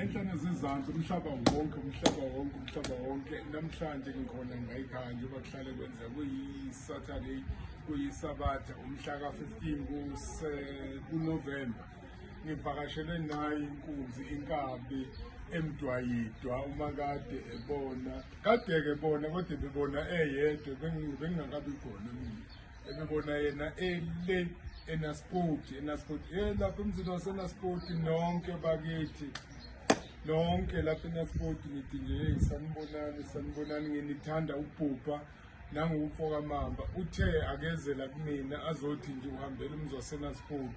enhlane zizansi umhlaba wonke umhlaba wonke umhlaba wonke namhlanje ngikhona ngayikhaya njengoba kuhlale kwenzeka kuyi-saturday kuyisabatha umhla ka-15 kunovemba ngivakashelwe nayo inkunzi inkabi emdwayidwa uma kade ebona kade-ke bona kodwa bebona eyedwa bengingakabi khona mina ebebona yena ele enaspoti enaspoti e lapha emzini wasenaspoti nonke bakithi nonke lapha enaspoti ngithi nje heyi sanibonani sanibonani nginithanda ukubhubha nanguwumfokamamba uthe akezela kumina azothi nje uhambela umzi wasenaspoti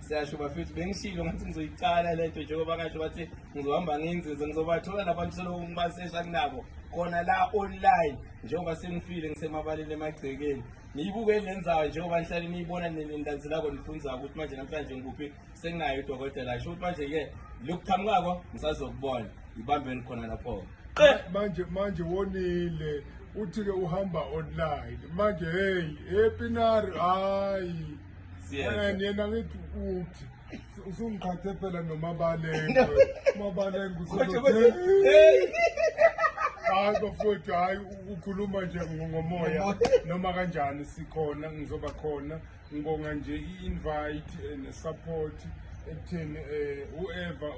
siyasho bafethu bengishilo ngathi ngizoyiqala le nto njengoba kasho bathi ngizohamba nginzinze ngizobathola labantu selokhu ngibasesha kunabo khona la online njengoba sengifile ngisemabaleni emagcekeni niyibuke lenzayo njengoba nihlale niyibona nilendanzi lako nifunza ukuthi manje namhlanje ngikuphi senginayo udokotela sho ukuthi manje-ke lokuqhamukako ngisazokubona ngibambeni khona lapho manje manje wonile uthi-ke uhamba online manje heyi epinari hhayi yena ngithi uthi usungiqhathe phela nomabalenge umabalenge hayi bafowethu hayi ukhuluma nje ngomoya noma kanjani sikhona ngizoba khona ngibonga nje i-invite eh, ne-support ekutheni um whoever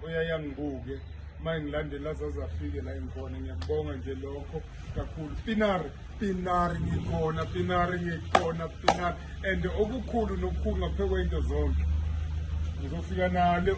oyaye angibuke uma engilandela zaze afike la engikhona ngiyakubonga nje lokho kakhulu pinari pinari ngikhona pinari ngikhona pinari and okukhulu nokukhulu ngaphekwento zonke ngizofika nalo